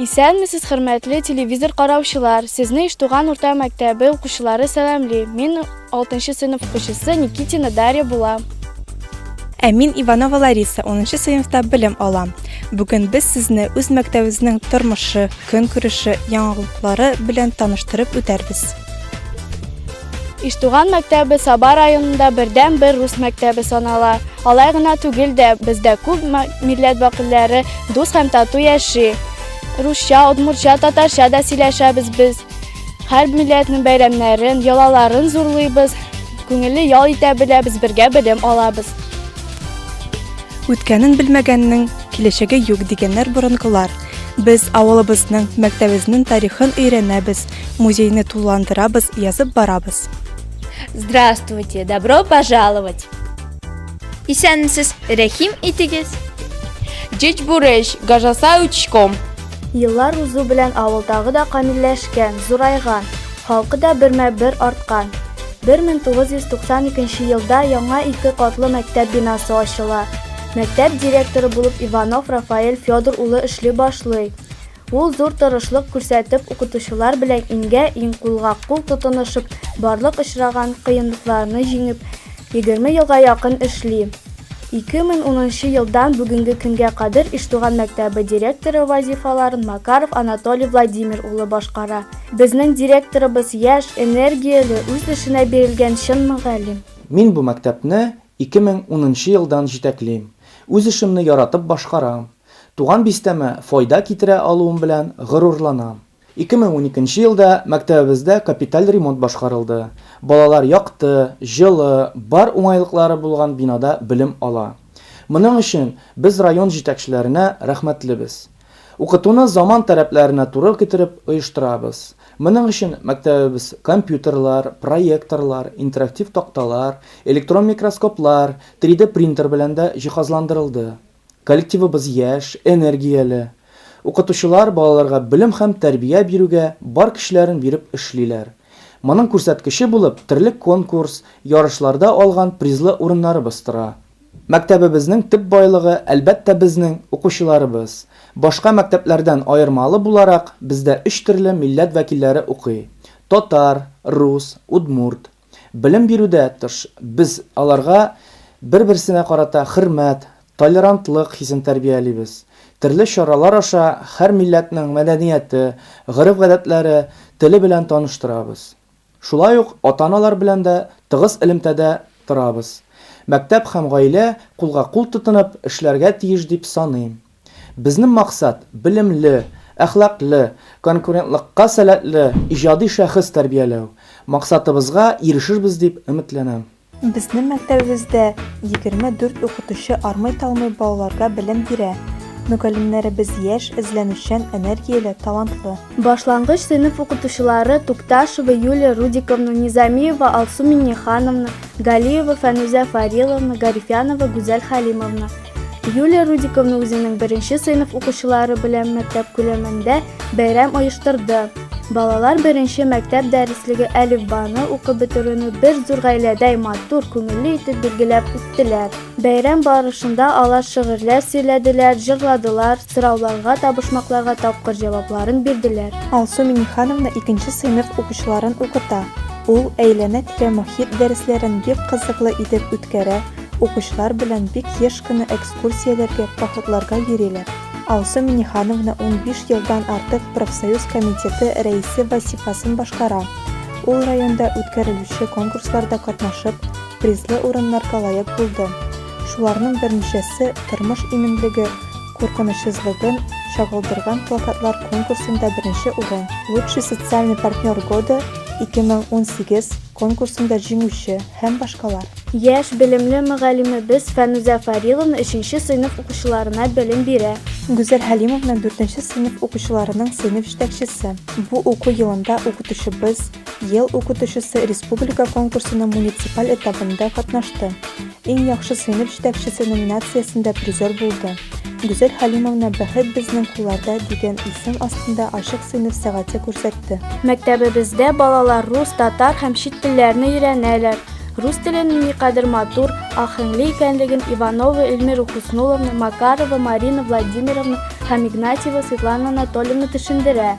Исәнмесез хөрмәтле телевизор караучылар! Сезне Иштуган урта мәктәбе укучылары сәламли. Мин 6 нчы сыйныф укучысы Никитина Дарья булам. Ә мин Иванова Лариса, 10 нчы сыйныфта белем алам. Бүген без сезне үз мәктәбебезнең тормышы, көнкүреше, яңалыклары белән таныштырып үтәрбез. Иштуган мәктәбе Саба районында бердәнбер рус мәктәбе санала. Алай гына түгел дә, бездә күп милләт вәкилләре дус һәм тату яши. Русча, удмуртча, татарча да сөйләшәбез без. Һәр милләтнең бәйрәмнәрен, йолаларын зурлыйбыз. Күңелле ял итә беләбез, бергә белем алабыз. Үткәнен белмәгәннең киләчәге юк, дигәннәр борынгылар. Без авылыбызның, мәктәбебезнең тарихын өйрәнәбез, Музейны тулыландырабыз, язып барабыз. Здравствуйте, добро пожаловать! Исәнмесез, рәхим итегез! Җич бурыч, гажаса учком. Еллар узу белән авылдагы да камилләшкән, зурайган, халкы да бермә-бер арткан. 1992 елда яңа ике катлы мәктәп бинасы ачыла. Мәктәп директоры булып Иванов Рафаэль Федор улы эшли башлый. Ул зур тырышлык күрсәтеп укытучылар белән иңгә-иң, кулга-кул тотынышып, барлык очраган кыенлыкларны җиңеп, егерме елга якын эшли. Ике мең унынчы елдан бүгенге көнгә кадәр Иштуган мәктәбе директоры вазифаларын Макаров Анатолий Владимир улы башкара. Безнең директорыбыз, яшь, энергияле, үз эшенә бирелгән чын мөгаллим. Мин бу мәктәпне ике мең унынчы елдан җитәклим, үз эшемне яратып башкарам. Туган бистәмә файда китерә алуым белән горурланам. 2012 нче елда мәктәбебездә капиталь ремонт башкарылды. Балалар якты, җылы, бар уңайлыклары булган бинада белем ала. Моның өчен без район җитәкчеләренә рәхмәтлебез. Укытуны заман таләпләренә туры китереп оештырабыз. Моның өчен мәктәбебез компьютерлар, проекторлар, интерактив такталар, электрон микроскоплар, 3D принтер белән дә җиһазландырылды. Коллективыбыз яшь, энергияле. Укытучылар балаларга белем һәм тәрбия бирүгә бар көчләрен биреп эшлиләр. Моның күрсәткече булып терлек конкурс, ярышларда алган призлы урыннарыбыз тора. Мәктәбебезнең төп байлыгы, әлбәттә, безнең укучыларыбыз. Башка мәктәпләрдән аермалы буларак, бездә өч төрле милләт вәкилләре укый, татар, рус, удмурт. Белем бирүдә тыш, без аларга бер-берсенә карата хөрмәт, толерантлык хисен тәрбиялибез. Төрле чаралар аша һәр милләтнең мәдәнияте, гореф-гадәтләре, теле белән таныштырабыз. Шулай ук ата-аналар белән дә тыгыз элемтәдә торабыз. Мәктәп һәм гаилә кулга-кул тотынып эшләргә тиеш дип саныйм. Безнең максат, белемле, әхлаклы, конкурентлыкка сәләтле иҗади шәхес тәрбияләү. Максатыбызга ирешербез дип өметләнәм. Безнең мәктәбебездә 24 укытучы армый-талмый балаларга белем бирә. Мөгаллимнәребез яшь, эзләнүчән, энергияле, талантлы. Башлангыч сыйныф укытучылары Тукташева Юлия Рудиковна, Низамиева Алсу Миңнехановна, Галиева Фәнүзә Фариловна, Гарифянова Гүзәл Хәлимовна. Юлия Рудиковна үзенең беренче сыйныф укучылары белән мәктәп күләмендә бәйрәм оештырды. Балалар беренче мәктәп дәреслеге әлифбаны укып бетерүне бер зур гаиләдәй матур, күңелле итеп билгеләп үттеләр. Бәйрәм барышында алар шигырьләр сөйләделәр, җырладылар, сорауларга, табышмакларга тапкыр җавапларын бирделәр. Алсу Минихановна икенче сыйныф укучыларын укыта. Ул әйләнә-тирә мохит дәресләрен бик кызыклы итеп үткәрә, Укучылар белән бик еш кына экскурсияләргә, походларга йөриләр. Алсу Миннехановна унбиш елдан артык профсоюз комитеты рәисе вазифасын башкара. Ул районда үткәрелүче конкурсларда катнашып, призлы урыннарга лаек булды. Шуларның берничәсе Тормыш иминлеге куркынычсызлыгын чагылдырган плакатлар конкурсында беренче урын, Лучший социальный партнер года 2018, конкурсында җиңүче һәм башкалар. Яшь, белемле мөгаллимебез Фәнүзә Фариловна өченче сыйныф укучыларына белем бирә. Гүзәл Хәлимовна дүртенче сыйныф укучыларының сыйныф җитәкчесе. Бу уку елында Укытучыбыз, ел укытучысы республика конкурсының муниципаль этабында катнашты. Иң яхшы сыйныф җитәкчесе номинациясендә призер булды. Гүзәл Халимовна Бәхет безнең кулларда дигән исем астында ачык сыйныф сәгате күрсәтте. Мәктәбебездә балалар рус, татар һәм чит телләрне өйрәнәләр. Рус теленең никадәр матур, аһәңле икәнлеген Иванова Эльмира Хөснулловна, Макарова Марина Владимировна һәм Игнатьева Светлана Анатольевна төшендерә.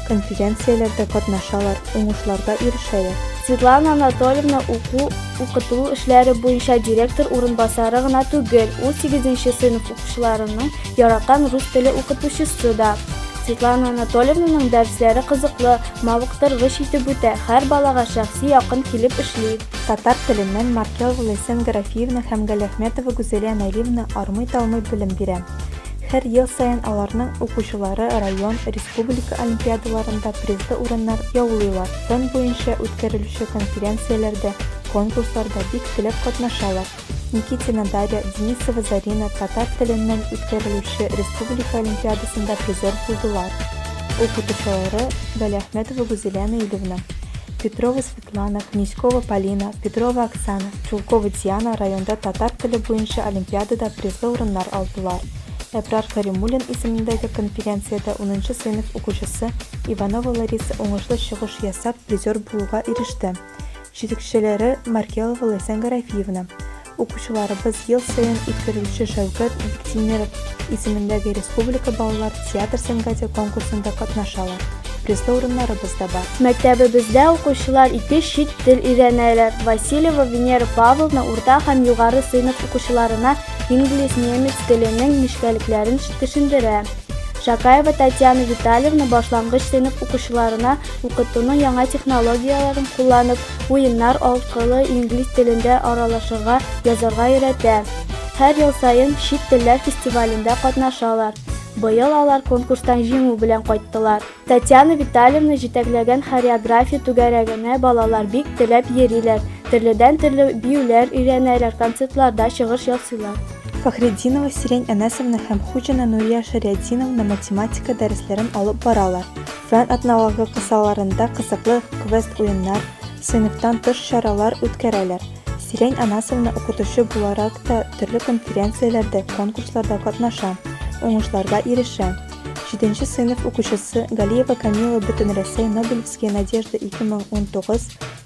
конференцияләрдә катнашалар, уңышларга ирешәләр. Светлана Анатольевна уку, укыту эшләре буенча директор урынбасары гына түгел, ул сигезенче сыйныф укучыларының яраткан рус теле укытучысы да. Светлана Анатольевнаның дәресләре кызыклы, мавыктыргыч итеп үтә, һәр балага шәхси якын килеп эшли. Татар теленнән Маркелова Ләйсән Гарәфиевна һәм Галиәхмәтова Гүзәлия Наилевна армый-талмый белем бирә. Һәр ел саен аларның укучылары район, республика олимпиадаларында призлы урыннар яулыйлар, фән буенча үткәрелүче конференцияләрдә, конкурсларда бик теләп катнашалар. Никитина Дарья, Денисова Зарина татар теленнән үткәрелүче республика олимпиадасында призер булдылар. Укытучылары Галиәхмәтова Гүзилә Наилевна, Петрова Плана, Князькова Полина, Петрова Оксана, Чулкова Диана районда татар теле буенча олимпиадада призлы урыннар алдылар. Әбрар Кәримуллин исемендәге конференциядә унынчы сыйныф укучысы Иванова Лариса уңышлы чыгыш ясап, призер булуга иреште. Җитәкчеләре, Маркелова Ләйсән Гарәфиевна. Укучыларыбыз ел саен үткәрелүче Шәүкәт Биктимеров исемендәге республика балалар театр сәнгате конкурсында катнашалар. Призлы урыннарыбыз да бар. Мәктәбебездә укучылар ике чит тел өйрәнәләр. Васильева Венера Павловна урта һәм югары сыйныф укучыларына инглиз, немец теленең нечкәлекләрен төшендерә. Шакаева Татьяна Витальевна башлангыч сыйныф укучыларына укытуның яңа технологияләрен кулланып, Уеннар аркылы инглиз телендә аралашырга, язарга өйрәтә. Һәр ел саен чит телләр фестивалендә катнашалар. Быел алар конкурстан җиңү белән кайттылар. Татьяна Витальевна җитәкләгән хореография түгәрәгенә балалар бик теләп йөриләр, төрледән-төрле биюләр өйрәнәләр, концертларда чыгыш ясыйлар. Фәхретдинова Сирень Әнәсовна һәм Хуҗина Нурия Шәрятдиновна математика дәресләрен алып баралар. Фән атналыгы кысаларында кызыклы квест-уеннар, сыйныфтан тыш чаралар үткәрәләр. Сирень Анасовна укытучы буларак та төрле конференцияләрдә, конкурсларда катнаша, уңышларга ирешә. Җиденче сыйныф укучысы Галиева Камила Бөтенрәсәй Нобелевские надежды 2019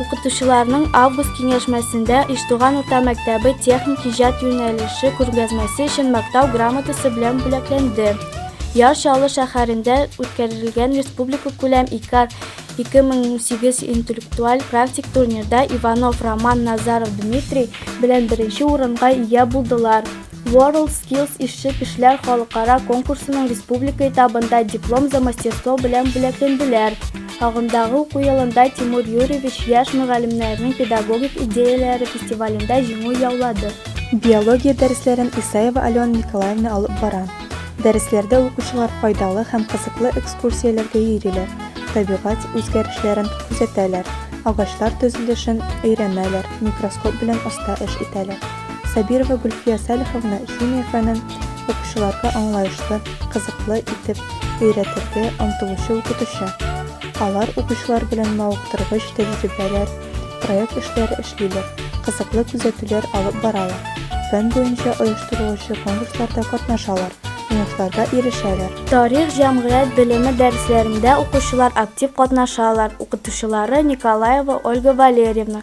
Укытучыларның август киңәшмәсендә Иштуган урта мәктәбе техник иҗат юнәлеше күргәзмәсе өчен мактау грамотасы белән бүләкләнде. Яр Чаллы шәһәрендә үткәрелгән республика күләм ИКАР 2008 интеллектуаль практик турнирда Иванов Роман Назаров Дмитрий белән беренче урынга ия булдылар. World Skills ишче кешеләр халыкара конкурсының республика этабында диплом за мастерство белән бүләкләнделәр. Агымдагы уку елында Тимур Юрьевич яшь мөгаллимнәрнең педагогик идеяләре фестивалендә җиңү яулады. Биология дәресләрен Исаева Алена Николаевна алып бара. Дәресләрдә укучылар файдалы һәм кызыклы экскурсияләргә йөриләр, табигать үзгәрешләрен күзәтәләр, агачлар төзелешен өйрәнәләр, микроскоп белән оста эш итәләр. Сабирова Гөлфия Салиховна химия фәнен укучыларга аңлаешлы, кызыклы итеп өйрәтергә омтылучы укытучы. Алар укучылар белән мавыктыргыч тәҗрибәләр, проект эшләре эшлиләр, кызыклы күзәтүләр алып баралар, фән буенча оештырылучы конкурсларда катнашалар, уңышларга ирешәләр. Тарих, җәмгыять белеме дәресләрендә укучылар актив катнашалар, укытучылары, Николаева Ольга Валерьевна,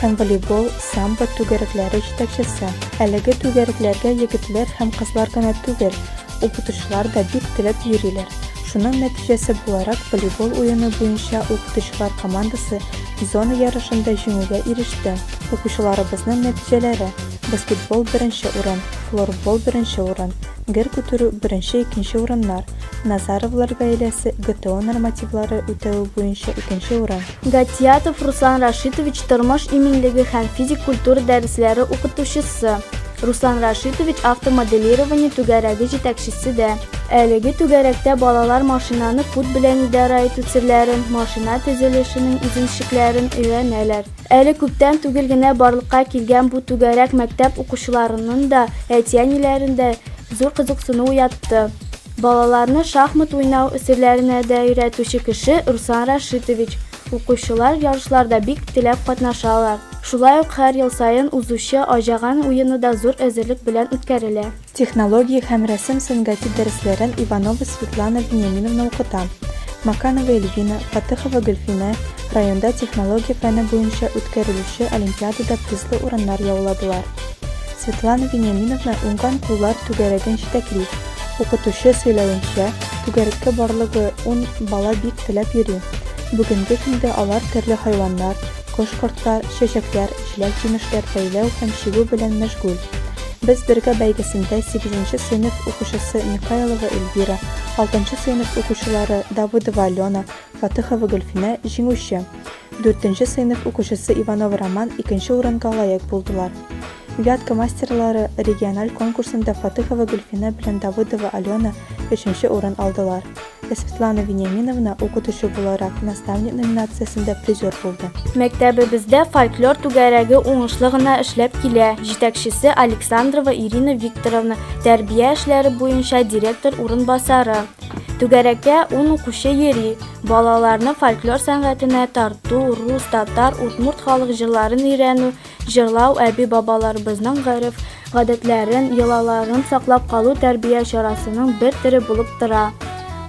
һәм волейбол, самбо түгәрекләре җитәкчесе. Әлеге түгәрекләргә егетләр һәм кызлар гына түгел, укытучылар да бик теләп йөриләр. Шуның нәтиҗәсе буларак, волейбол уены буенча укытучылар командасы зона ярышында җиңүгә иреште. Укучыларыбызның нәтиҗәләре, баскетбол беренче урын, флорбол беренче урын, гер күтәрү беренче-икенче урыннар, Назаровлар гаиләсе ГТО нормативлары үтәве буенча икенче урын, Гатиятов Руслан Рашитович тормыш иминлеге һәм физик культура дәресләре укытучысы, Руслан Рашитович автомоделирование түгәрәге җитәкчесе дә. Әлеге түгәрәктә балалар машинаны кут белән идарә итү серләрен, машина төзелешенең үзенчлекләрен өйрәнәләр. Әле күптән түгел генә барлыкка килгән бу түгәрәк мәктәп укучыларының да, әти-әниләрен дә зур кызыксыну уятты. Балаларны шахмат уйнау өсөлләренә дә өйрәтүче кеше Руслан Рашитович. Укучылар ярышларда бик теләп катнашалар. Шулай ук һәр ел саен узучы Аҗаган уены да зур әзерлек белән үткәрелә. Технология һәм рәсем сәнгате дәресләрен Иванова Светлана Вениаминовна укыта. Маканова Эльвина, Фатыхова Гөлфинә районда технология фәне буенча үткәрелүче олимпиадада призлы урыннар яуладылар. Светлана Вениаминовна уңган куллар түгәрәген җитәкли. Укытучы сөйләвенчә, түгәрәккә барлыгы ун бала бик теләп йөри. Бүгенге көндә алар төрле хайваннар, кош-кортлар, чәчәкләр, җиләк-җимешләр бәйләү һәм чигү белән мәшгуль. Без бергә бәйгесендә сигезенче сыйныф укучысы Михайлова Эльвира, алтынчы сыйныф укучылары Давыдова Алена, Фатыхова Гөлфинә, җиңүче. Дүртенче сыйныф укучысы Иванов Роман икенче урынга лаек булдылар. Вятка мастерлары региональ конкурсында Фатыхова Гөлфинә белән Давыдова Алена өченче урын алдылар, ә Светлана Вениаминовна укытучы буларак наставник номинациясендә призер булды. Мәктәбебездә фольклор түгәрәге уңышлы гына эшләп килә, җитәкчесе Александрова Ирина Викторовна, тәрбия эшләре буенча директор урынбасары. Түгәрәккә ун укучы йөри, балаларны фольклор сәнгатенә тарту, рус, татар, удмурт халык җырларын өйрәнү, Җырлау, әби-бабаларыбызның гореф, гадәтләрен, йолаларын саклап калу тәрбия чарасының бер төре булып тора.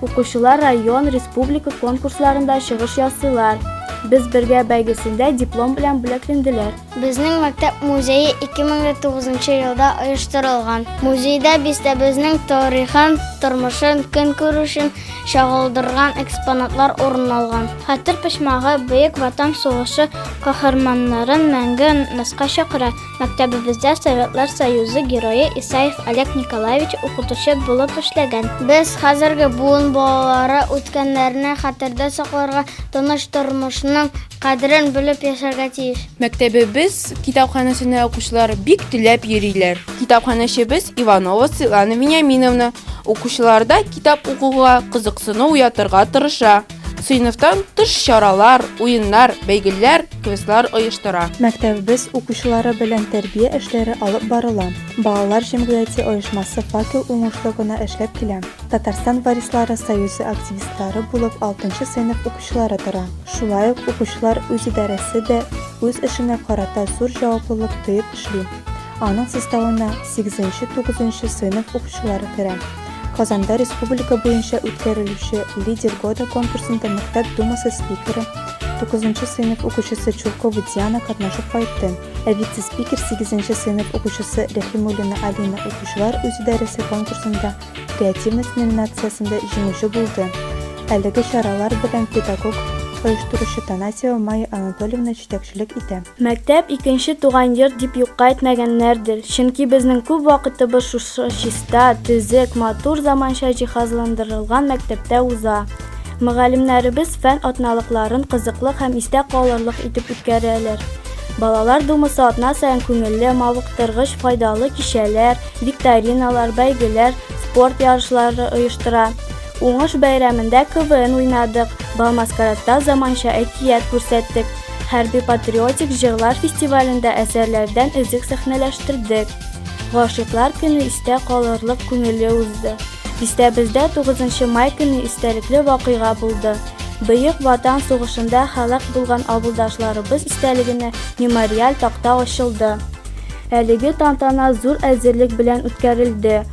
Укучылар район, республика конкурсларында чыгыш ясыйлар. Без бергә бәйгесендә диплом белән бүләкленделәр. Безнең мәктәп музее 2009 нчы елда оештырылган. Музейда бистәбезнең тарихын, тормышын, көнкүрешен, чагылдырган экспонатлар урын алган. Хәтер почмагы Бөек Ватан сугышы каһарманнарын мәңге онытмаска чакыра. Мәктәбебездә Советлар Союзы герое Исаев Олег Николаевич укытучы булып эшләгән. Без хәзерге буын балалары үткәннәрне хәтердә сакларга, тыныч тормышның кадерен белеп яшәргә тиеш. Мәктәбебез китапханәсенә укучылар бик теләп йөриләр. Китапханәчебез Иванова Светлана Вениаминовна укучыларда Китап укуга кызыксыну уятырга тырыша. Сыйныфтан тыш чаралар, уеннар, бәйгеләр, квестлар оештыра. Мәктәбебез укучылары белән тәрбия эшләре алып барыла. Балалар җәмгыяте оешмасы Факел уңышлы гына эшләп килә. Татарстан варислары союзы активистлары булып алтынчы сыйныф укучылары тора. Шулай ук укучылар үзидарәсе дә үз эшенә карата зур җаваплылык тоеп эшли. Аның составына сигезенче-тугызынчы сыйныф укучылары керә. Казанда республика буенча үткәрелүче Лидер года конкурсында мәктәп думасы спикеры, 9 сыйныф укучысы Чуркова Диана катнашып кайтты. Ә вице-спикер 8 сыйныф укучысы Рәхимуллина Алина укучылар үз идарәсе конкурсында креативность номинациясендә җиңүче булды. Әлеге чаралар белән педагог оештыручы Танасева Майя Анатольевна җитәкчелек итә. Мәктәп, икенче туган йорт дип юкка әйтмәгәннәрдер, чөнки безнең күп вакытыбыз шушы чиста, төзек, матур заманча җиһазландырылган мәктәптә уза. Мөгаллимнәребез фән атналыкларын кызыклы һәм истә калырлык итеп үткәрәләр. Балалар думасы атна саен күңелле, мавыктыргыч, файдалы кичәләр, викториналар, бәйгеләр, спорт ярышлары оештыра. Уңыш бәйрәмендә КВН уйнадык, бал-маскарадта заманча әкият күрсәттек. Хәрби-патриотик җырлар фестивалендә әсәрләрдән өзек сәхнәләштердек. Гашыйклар көне истә калырлык күңелле узды. Бистәбездә 9 май көне истәлекле вакыйга булды. Бөек Ватан сугышында һәлак булган авылдашларыбыз истәлегенә мемориаль такта ачылды. Әлеге тантана зур әзерлек белән үткәрелде.